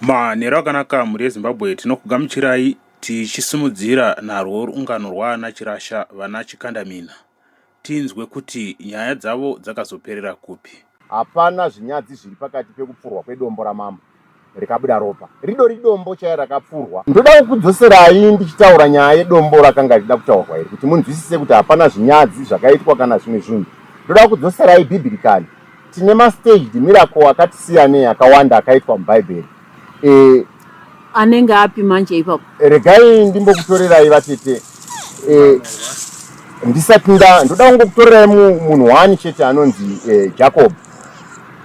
Manheru akanaka mhuri yeZimbabwe tinokugamuchirai tichisimudzira narwo rungano rwaana Chirasha vana Chikandamina tinzwe kuti nyaya dzavo dzakazoperera kupi. Hapana zvinyadzi zviri pakati pekupfurwa kwedombo ramambo rikabuda ropa. Ridori idombo chairo rakapfurwa. Ndoda kukudzoserai ndichitaura nyaya yedombo rakanga richida kutaurwa iri kuti munzwisise kuti hapana zvinyadzi zvakaitwa kana zvimwe zvinhu. Ndoda kukudzoserai bhibhirikari. Tine mastaged miracle akati siyanei akawanda akaitwa mubhaibheri. E, anenge api manje ipapo? Regai ndimbokutorerai vatete. E, ndisati nda ndoda kungokutorerai munhu wani chete anonzi e, Jacob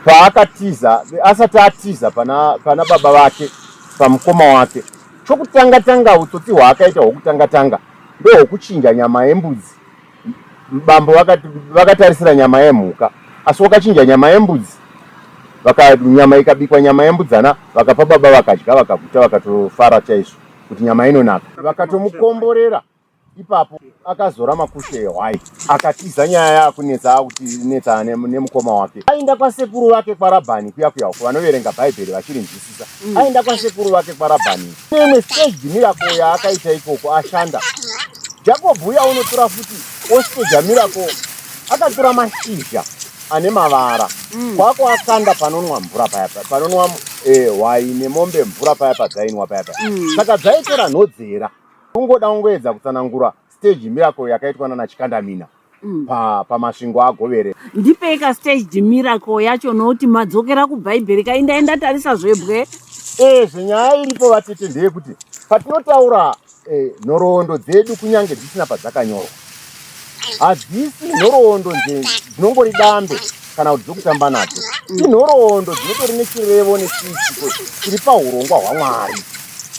paakatiza asati atiza pana, pana baba vake pamukoma wake chokutanga tanga utsotsi hwaakaita hwokutanga tanga ndohwokuchinja nyama yembudzi Bambo vakati vakatarisira nyama yemhuka asi wakachinja nyama yembudzi vaka nyama ikabikwa nyama yembudzana vakapa baba vakadya vakaguta vakatofara chaizvo kuti nyama inonaka vakatomukomborera ipapo akazora makushe ehwai akatiza nyaya yakunetsa akuti netsa nemukoma wake ainda kwasekuru vake kwarabhani kuya kuya uko vanoverenga bhaibheri vachirinzwisisa Achidzidza mm. aenda kwasekuru vake kwaRabhani. Imwe stage miracle yaakaita ikoko ashanda. Jacob uya unotora futi ostage miracle akatora mashizha ane mavara mm. kwako akanda panonwa mvura paya panonwa eh, waine mombe mvura paya padzainwa paya paya mm. saka dzaitora nhodzera ungoda ungoedza kutsanangura stage miracle yakaitwa nana chikandamina mm. pa pamasvingo agovere ndipei ka staged miracle yacho nokuti madzokera kubhaibheri kai ndai ndatarisa zvebwe eh zvenyaya iripo vatete ndeyekuti patinotaura eh, nhoroondo dzedu kunyange dzisina padzakanyorwa hadzisi nhoroondo nje dzinongori dambe kana kuti dzokutamba nadzo inhoroondo dzinotori nechirevo nechiitiko chiri paurongwa hwamwari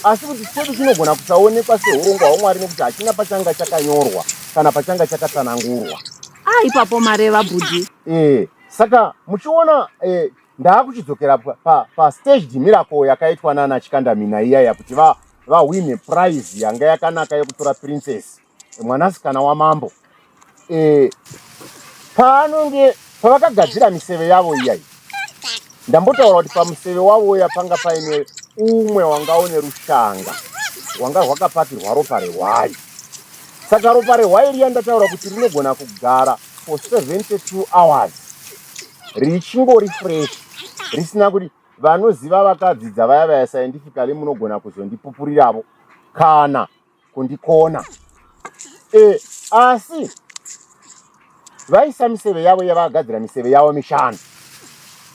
asi kuti chedu chinogona kusaonekwa seurongwa hwamwari nekuti hachina pachanga chakanyorwa kana pachanga chakatsanangurwa ah ipapo mareva bhudhi eh saka muchiona eh, ndaakuchidzokera pa, pa, pa staged miracle yakaitwa nana chikandamina iyaya kuti va vahwine prize yanga yakanaka yekutora princess mwanasikana wamambo eh, paanonge pavakagadzira miseve yavo iyayi ndambotaura kuti pamuseve wavoya panga paine umwe wanga une rushanga rwanga rwakapatirwa ropa rehwai saka ropa rehwai riya ndataura kuti rinogona kugara for 72 hours richingori fresh risina kuti vanoziva vakadzidza vaya vaya scientifically munogona kuzondipupuriravo kana kundikona e, asi vaisa miseve yavo yavagadzira miseve yavo mishanu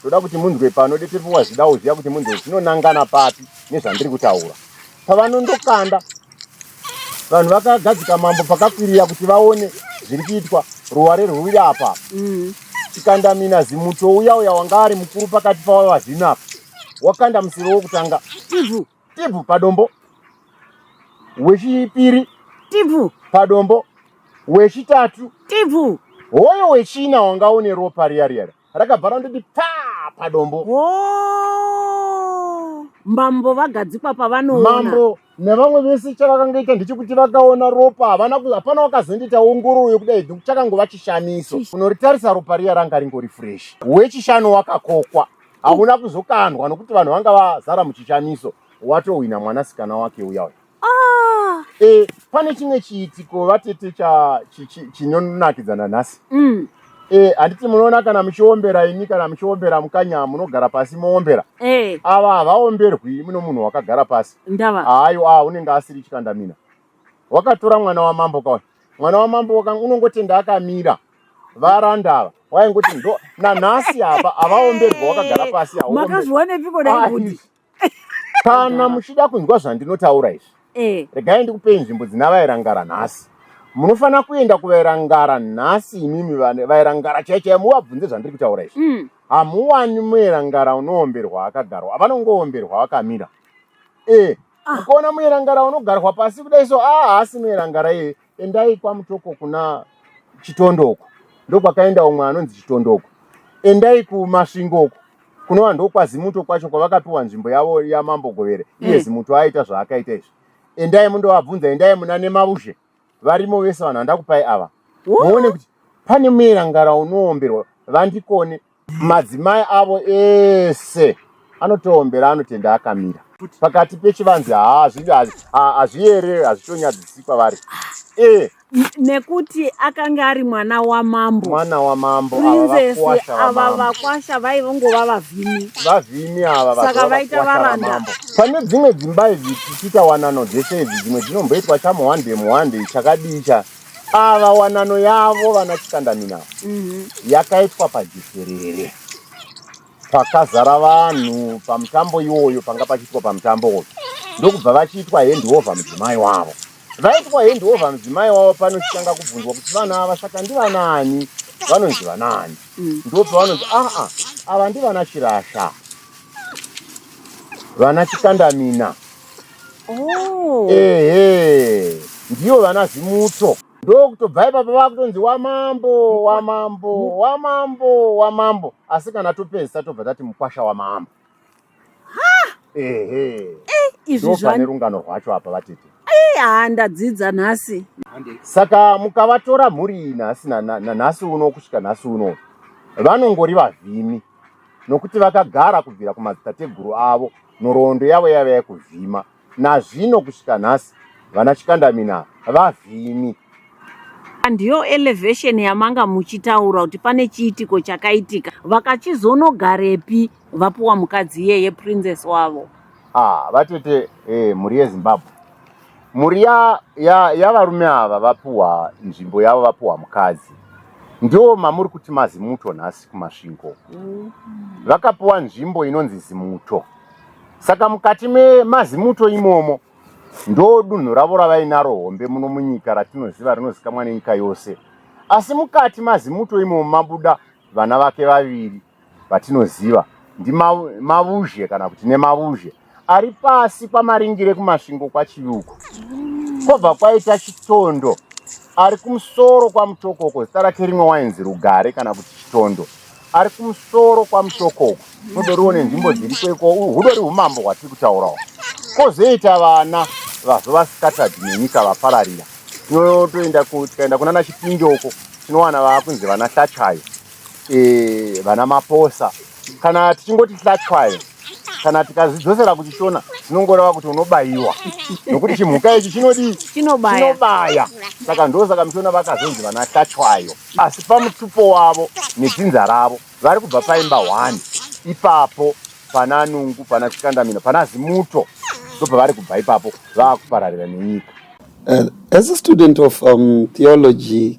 ndoda kuti munzwe pano detepiwa zvidawo zviya kuti munzwe zvinonangana papi nezvandiri kutaura pavanondokanda vanhu vakagadzika mambo pakakwirira kuti vaone zviri kuitwa ruware rwuri apa mm. chikandamina zimuto uya uya wanga ari mukuru pakati pavo vazvinapa wakanda museve wokutanga mm -hmm. Tibvu padombo. Wechipiri. Tibvu padombo. Wechitatu. Tibvu. Hoyo wechina wanga une ropa riya riya rakabva randoti pa padombo. Oh. Mambo vagadzikwa pavanoona. Mambo nevamwe vese chavakangaita ndechekuti vakaona ropa havana hapana wakazondiita ongororo yekudai nokuti chakangova chishamiso unoritarisa ropa riya ranga ringori fresh wechishanu wakakokwa hakuna kuzokandwa nokuti vanhu vanga vazara muchishamiso watohwina mwanasikana wake uya uya ah. e, pane chimwe chiitiko vatete chinonakidzana nhasi mm. e, handiti munoona kana muchiombera ini kana muchiombera mukanya munogara pasi moombera e. ava havaomberwi muno munhu wakagara pasi haayo a unenge asiri chikandamina wakatora mwana wamambo kawa mwana wamambo unongotenda akamira varanda ava waingoti ndo nanhasi apa havaomberwa wakagara pasi makazviwanepiko dai kuti kana muchida kunzwa zvandinotaura izvi eh. regai ndikupei nzvimbo dzina vairangara nhasi munofanira kuenda kuvairangara nhasi imimi vairangara chai chai muvabvunze zvandiri kutaura izvi mm. hamuwani muirangara unoomberwa akagarwa avanongoomberwa vakamira e eh. ah. ukaona muirangara unogarwa pasi kudai so a ah, haasi muirangara iye endai kwamutoko kuna chitondo uko ndokwakaenda umwe anonzi chitondo uko endai kumasvingo uko kunova ndokwazimuto kwacho kwavakapiwa nzvimbo yavo yamambo govere iye mm. zimuto aita zvaakaita izvi endai mundovabvunza endai muna nemavuzhe varimo vese vanhu vandakupai ava muone kuti pane muerangara unoomberwa vandikone Madzimai avo ese anotoombera anotenda akamira pakati pechivanzi haa hazviyere hazvitonyadzisi kwavari e nekuti akanga ari mwana wamambo mwana wamambo princess ava vakwasha vaivongova vavhimi vavhimi ava saka vaita varanda pane dzimwe dzimba idzi tichitawanano dzese idzi dzimwe dzinomboitwa chamuhwande muhwande chakadii cha Ava wanano yavo vana Chikandamina mm-hmm. yakaitwa pajekerere pakazara vanhu pamutambo iwoyo panga pachiitwa pamutambo uyu ndokubva vachiitwa handiover mudzimai wavo vaitwa handiover mudzimai wavo panochitanga kubvunzwa kuti vana ava saka ndivanani vanonzi vanaani mm. ndopa vanonzi aa ah, ah, ava ndivana chirasha vana chikandamina Oh. Ehe. Ndiyo vana Zimutso. Ndokutobva ipapa vakutonzi wamambo, wamambo, wamambo, wamambo. Asi kana topedzisa tobva tati mukwasha wamambo. Ehe. Eh, izvi Ndopane zvani. rungano rwacho apa vatete. Eh, haa ndadzidza nhasi. Saka mukavatora mhuri iyi nhasi na- na- nanhasi uno kusvika nhasi uno vanongori vavhimi. nokuti vakagara kubvira kumadzitateguru avo nhoroondo yavo yaiva yekuvhima nazvino kusvika nhasi vana chikandamina vavhimi ndiyo elevation yamanga muchitaura kuti pane chiitiko chakaitika vakachizonogarepi vapuwa mukadzi iyeye princess wavo ah vatete eh, mhuri yezimbabwe mhuri yavarume ya, ya ava vapuwa nzvimbo yavo vapuwa mukadzi ndiwo mamuri kuti mazimuto nhasi kumasvingo mm. vakapuwa nzvimbo inonzi zimuto saka mukati memazimuto imomo ndo dunhu ravo ravainaro hombe muno munyika ratinoziva rinozikamwa nenyika yose asi mukati mazimuto imomo mabuda vana vake vaviri vatinoziva ndimavuzhe kana kuti nemavuzhe ari pasi kwamaringire kumasvingo kwachiyuko kwobva kwaita chitondo ari kumusoro kwamutokoko zita rake rimwe wainzi rugare kana kuti chitondo ari kumusoro kwamutokoko todoriwo nenzvimbo dziriko iko hudori umambo hwatiri kutaurawo kwozoita vana vazova scattered nenyika vapararira tinotoenda tikaenda kunana chipinjoko tinowana vaakunzi vana hlachayo eh, vana maposa kana tichingoti hlatwayo kana tikazidzosera kuchishona zvinongoreva kuti unobayiwa nokuti chimhuka ichi chinodii chinobaya saka ndo saka mishona vakazonzi vana hlatwayo asi pamutupo wavo nedzinza ravo vari kubva paimba one ipapo pana nungu pana chikandamino pana zimuto ndobva vari kubva ipapo vaakupararira nenyika uh, as a student of um, theology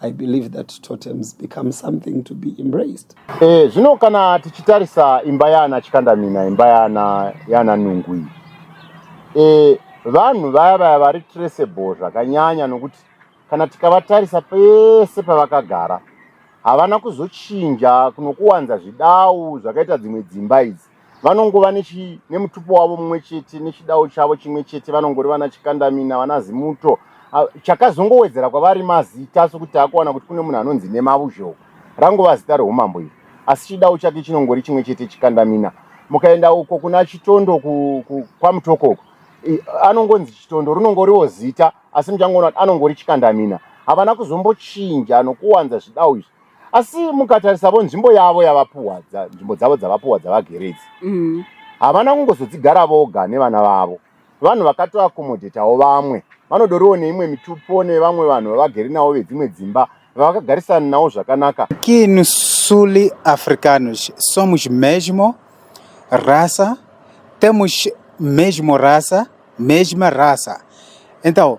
I believe that totems become something to be embraced. Eh, zvino kana tichitarisa imba yana Chikandamina, imba yana yana Nungu iyi. Eh, vanhu vaya vaya vari traceable zvakanyanya nokuti kana tikavatarisa pese pavakagara havana kuzochinja kunokuwanza zvidau zvakaita dzimwe dzimba idzi vanongova nemutupo wavo mumwe chete nechidawo chavo chimwe chete vanongori vana chikandamina vana zimuto ah, chakazongowedzera kwavari mazita sokuti akuwana kuti kune munhu anonzi nemavuzhou rangova zita reumambo iri asi chidawo chake chinongori chimwe chete chikandamina mukaenda uko kuna chitondo kwamutoko uko anongonzi chitondo rinongoriwo zita asi muchangoona kuti anongori chikandamina havana kuzombochinja nokuwanza zvidawo izvi asi mukatarisavo nzvimbo yavo yavapuwa nzvimbo dzavo dzavapuwa dzavagere idzi mm. havana kungozodzigara voga nevana vavo vanhu vakatoakomodhetawo vamwe vanodoriwo neimwe mitupo nevamwe vanhu vavagere navo vedzimwe dzimba vavakagarisana navo zvakanaka que no sul africanos somos mesmo raça temos mesmo raça mesma raça então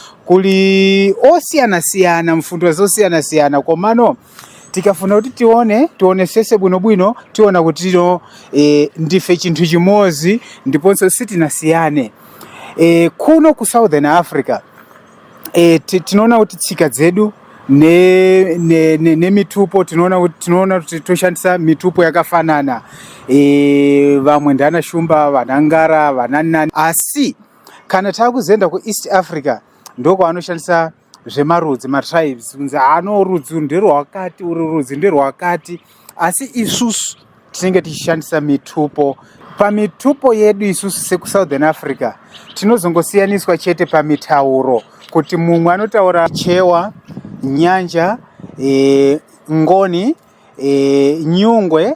kuli osiyana siyana mfundo zosiyana siyana komano tikafuna kuti tione tione sese bwino bwino tiona kuti tino e, ndife chintu chimozi ndiponso sitina siyane e, kuno ku southern africa e, tinoona kuti tsika dzedu nemitupo ne, ne, ne tinoona kuti tinoona kuti toshandisa mitupo yakafanana e, vamwe ndana shumba vanangara vananani asi kana taakuzoenda kueast africa ndokwavanoshandisa zvemarudzi matribes kunzi ano rudzi nderwakati uri rudzi nderwakati asi isusu tinenge tichishandisa mitupo pamitupo yedu isusu sekusouthern africa tinozongosiyaniswa chete pamitauro kuti mumwe anotaura chewa nyanja e, ngoni e, nyungwe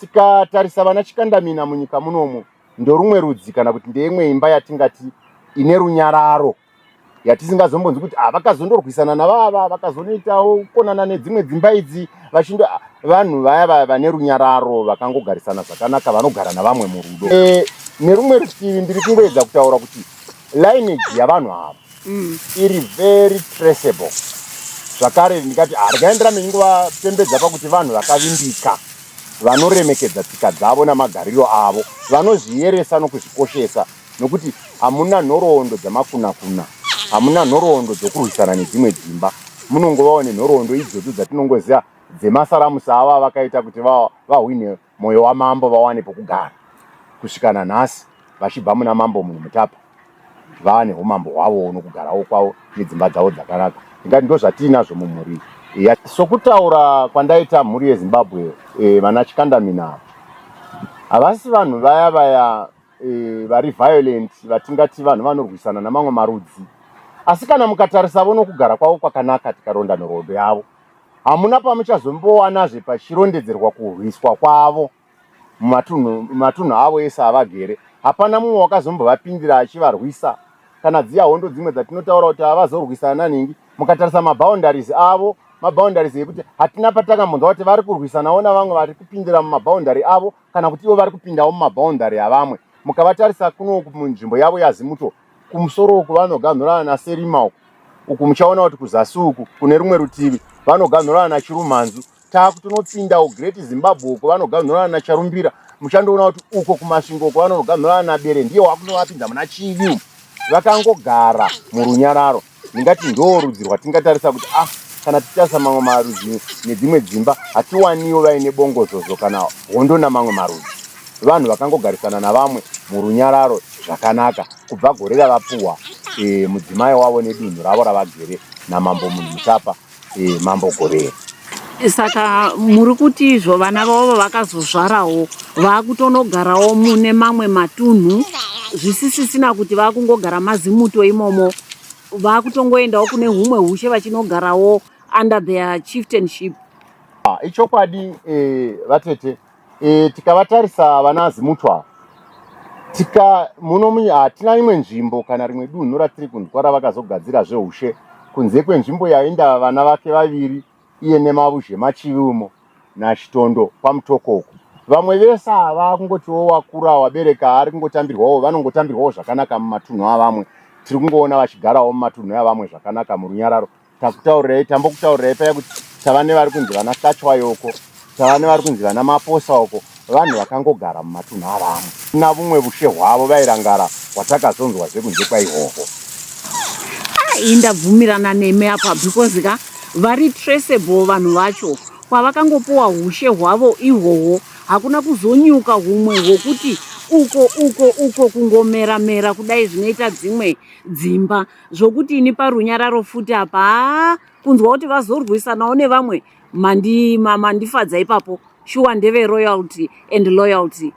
Tikatarisa vana Chikandamina munyika munomu ndorumwe rudzi kana kuti ndeimwe imba yatingati ine runyararo yatisingazombonzi kuti ah, vakazondorwisana navava vakazonoitawo kukonana nedzimwe dzimba idzi vachindo ah, vanhu vaya vaya vane runyararo vakangogarisana zvakanaka vanogara navamwe murudo e, nerumwe rutivi ndiri kungoedza kutaura kuti lineage yavanhu ava mm. iri very traceable zvakare ndikati harikaendera ah, menyu kuvapembedza pakuti vanhu vakavimbika vanoremekedza tsika dzavo namagariro avo vanozviyeresa nokuzvikoshesa nokuti hamuna nhoroondo dzamakunakuna hamuna nhoroondo dzokurwisana nedzimwe dzimba munongovawo nenhoroondo idzodzo dzatinongoziva dzemasaramusi avo avakaita kuti vahwine Moyo wamambo vawane pokugara kusvika nanhasi vachibva muna mambo munhu mutapa vaane humambo hwavo unokugarawo kwavo nedzimba dzavo dzakanaka ndingati ndozvatiinazvo mumhuri iya sokutaura kwandaita mhuri yezimbabwe e, vana chikandamina havasi vanhu vaya vaya e, vari violent vatingati vanhu vanorwisana namamwe marudzi asi kana mukatarisavo nokugara kwavo kwakanaka tikaronda nhoroondo yavo Hamuna pamuchazombowanazve pachirondedzerwa kurwiswa kwavo mumatunhu avo ese avagere. Hapana mumwe wakazombovapindira achivarwisa kana dziya hondo dzimwe dzatinotaura kuti avazorwisana ningi mukatarisa maboundaries avo maboundaries yekuti hatina patakambonzwa kuti vari kurwisanawo navamwe vari kupindira mumaboundary avo kana kuti ivo vari kupindawo mumaboundary avamwe mukabatarisa kunoku munzvimbo yavo yazimuto kumusoro uku vanoganhurana naserima uku uku muchaona kuti kuzasi uku kune rumwe rutivi vanoganhurana nachirumhanzu taku tinopindawo great zimbabwe uko vanoganhurana nacharumbira muchandoona kuti uko kumasvingo uko vanoganhurana nabere ndiye wakunovapinza muna chivi vakangogara murunyararo ndingati ndoo rudzi rwatingatarisa kuti ah kana tichasa mamwe marudzi nedzimwe dzimba hatiwaniwo vaine bongozozo kana hondo namamwe marudzi vanhu vakangogarisana navamwe murunyararo zvakanaka kubva gore ravapuhwa e, mudzimai wavo nedunhu ravo ravagere namambo munhu mutapa eh, mambo gore saka muri kuti izvo vana vavo vakazozvarawo vakutonogarawo mune mamwe matunhu zvisisisina kuti vakungogara mazimuto imomo vakutongoendawo kune humwe hushe vachinogarawo under their chieftainship ah, ichokwadi eh, vatete e, tikavatarisa vana azimutwa ava tika muno hatina imwe nzvimbo kana rimwe dunhu ratiri kunzwa ravakazogadzira zveushe kunze kwenzvimbo yainda vana vake vaviri iye nemavuzhe machivi umo nachitondo kwamutokoko vamwe vese ava kungotiwo wakura wabereka ari kungotambirwawo vanongotambirwawo zvakanaka mumatunhu avamwe tiri kungoona vachigarawo mumatunhu avamwe zvakanaka murunyararo takutaurirai tambokutaurirai paya kuti tava nevari kunzi vana kachwayo uko tava nevari kunzi vana maposa uko vanhu vakangogara mumatunhu avamwe na vumwe vushe hwavo vairangara kwatakazonzwa zvekunze kwaihwohwo ai ndabvumirana nemi apa because ka vari traceable vanhu vacho kwavakangopuwa ushe hwavo ihwohwo hakuna kuzonyuka humwe hwokuti uko uko uko kungomera mera kudai zvinoita dzimwe dzimba zvokuti ini parunyararo futi apa haa kunzwa kuti vazorwisanawo nevamwe mandi- ma- mandifadza ipapo shuwa ndeve royalty and loyalty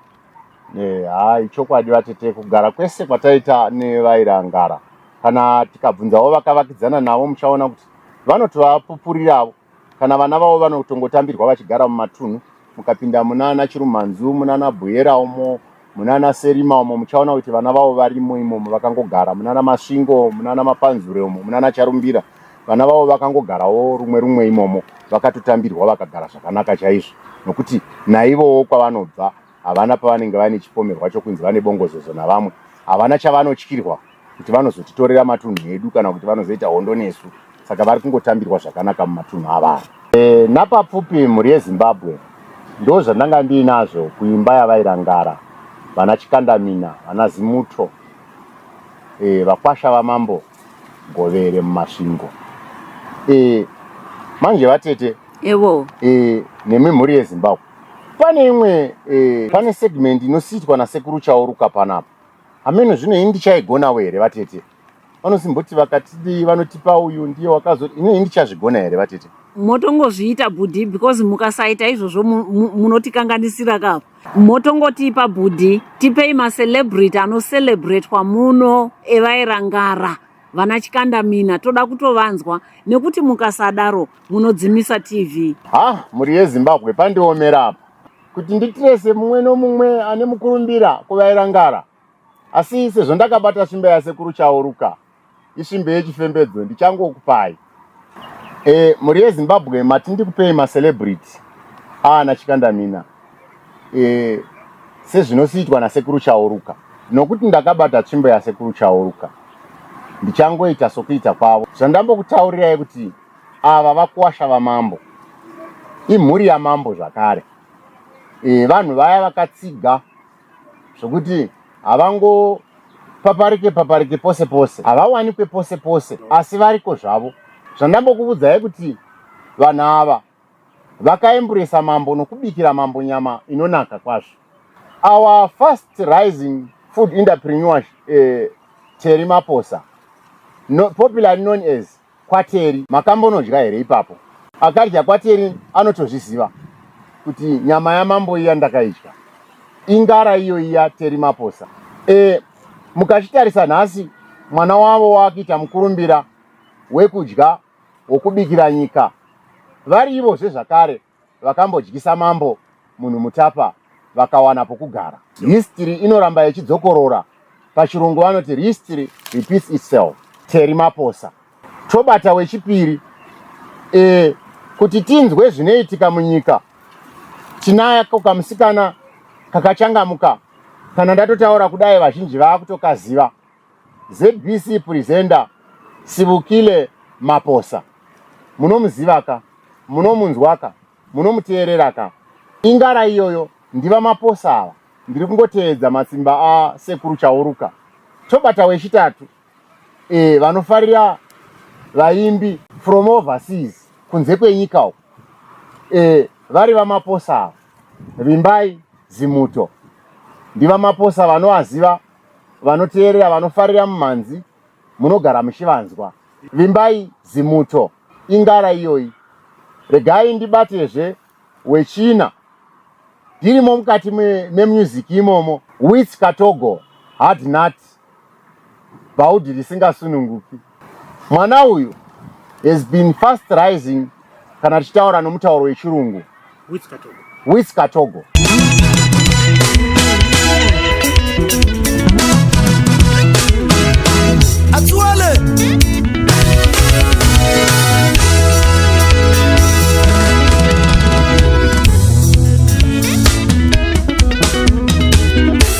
Eh, haa ichokwadi vatete kugara kwese kwataita nevairangara kana tikabvunzawo vakavakidzana navo muchaona kuti vanotovapupuriravo kana vana vavo vanotongotambirwa vachigara mumatunhu mukapinda munana chirumanzu munana buyera umo munana serima umo muchaona kuti vana vavo varimo imomo vakangogara munana masvingo munana mapanzure umo munana charumbira vana vavo vakangogarawo rumwe rumwe imomo vakatotambirwa vakagara zvakanaka chaizvo nokuti naivowo kwavanobva havana pavanenge vaine chipomerwa chokunzi vane bongozozo navamwe havana chavanotyirwa kuti vanozotitorera matunhu edu kana kuti vanozoita hondo nesu saka vari kungotambirwa zvakanaka mumatunhu avaa e, eh, napapfupi mhuri yezimbabwe ndo zvandanga ndiinazvo kuimba yavairangara vana chikandamina vana zimuto e, vakwasha vamambo govere mumasvingo e, manje vatete ewo e, nemimhuri yezimbabwe Pane imwe eh, pane segment inosiitwa nasekuru chauruka panapa hameno zvino ini ndichaigonawo here vatete vanosimboti vakatidii vanotipa uyu ndiye wakazo ine ini ndichazvigona here vatete motongozviita bhudhi because mukasaita izvozvo mu- mu- munotikanganisira ka motongotipa bhudhi tipei macelebrity anocelebratwa muno evairangara vana chikandamina toda kutovanzwa nekuti mukasadaro munodzimisa tv ha mhuri yezimbabwe pandiomera apa kuti nditirese mumwe nomumwe ane mukurumbira kuvaira ngara asi sezvo ndakabata svimbe yasekuru chauruka isvimbe yechifembedzo ndichangokupai e, mhuri yezimbabwe mati ndikupei macelebrity aana chikandamina e, sezvinosiitwa nasekuru chauruka nokuti ndakabata tsvimbo yasekuru chauruka ndichangoita sokuita kwavo zvandambokutaurirai kuti ava vakuwasha vamambo imhuri yamambo zvakare e, vanhu vaya vakatsiga zvekuti havango paparike paparike pose pose havawanikwe pose pose asi variko zvavo zvandambokuvudzai kuti vanhu ava vakaemburesa mambo nokubikira mambo nyama inonaka kwazvo our first rising food entrepreneur uh, eh, teri maposa no, popularly known as kwaTeri makambonodya here ipapo? Akadya kwaTeri anotozviziva kuti nyama yamambo iya ndakaidya. Ingara iyo iya Teri Maposa. E, mukachitarisa nhasi mwana wavo wakuita mukurumbira wekudya wokubikira nyika vari ivozve zvakare. vakambodyisa mambo munhu mutapa vakawana pokugara history inoramba ichidzokorora pachirungu vanoti history repeats itself teri maposa tobata wechipiri e, kuti tinzwe zvinoitika munyika tinayako kamusikana kakachangamuka kana ndatotaura kudai vazhinji vaakutokaziva ZBC presenter Sibukile Maposa munomuziva ka munomunzwa ka munomuteerera ka ingara iyoyo ndiva maposa ava ndiri kungoteedza matsimba a sekuru chauruka tobata wechitatu e, vanofarira vaimbi from overseas kunze kwenyika uko e, vari vamaposa ava vimbai zimuto ndivamaposa vanovaziva vanoteerera vanofarira mumhanzi munogara muchivanzwa vimbai zimuto ingara iyoyi regai ndibatezve wechina ndirimo mukati memusic imomo wits katogo hard nut bhaudhi risingasununguki Mwana uyu has been fast rising kana tichitaura nomutauro wechirungu with katogo, with katogo.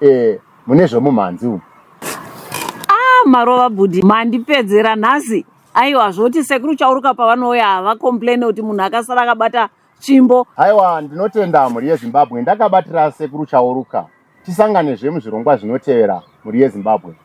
Eh, mune zvomumhanzi umu. Ah, marova bhudhi mandipedzera nhasi. Aiwa zvoti sekuru chauruka pavanouya hava complain kuti munhu akasara akabata tsvimbo. Haiwa ndinotenda mhuri yeZimbabwe ndakabatira sekuru chauruka. Tisangane zve muzvirongwa zvinotevera mhuri yeZimbabwe.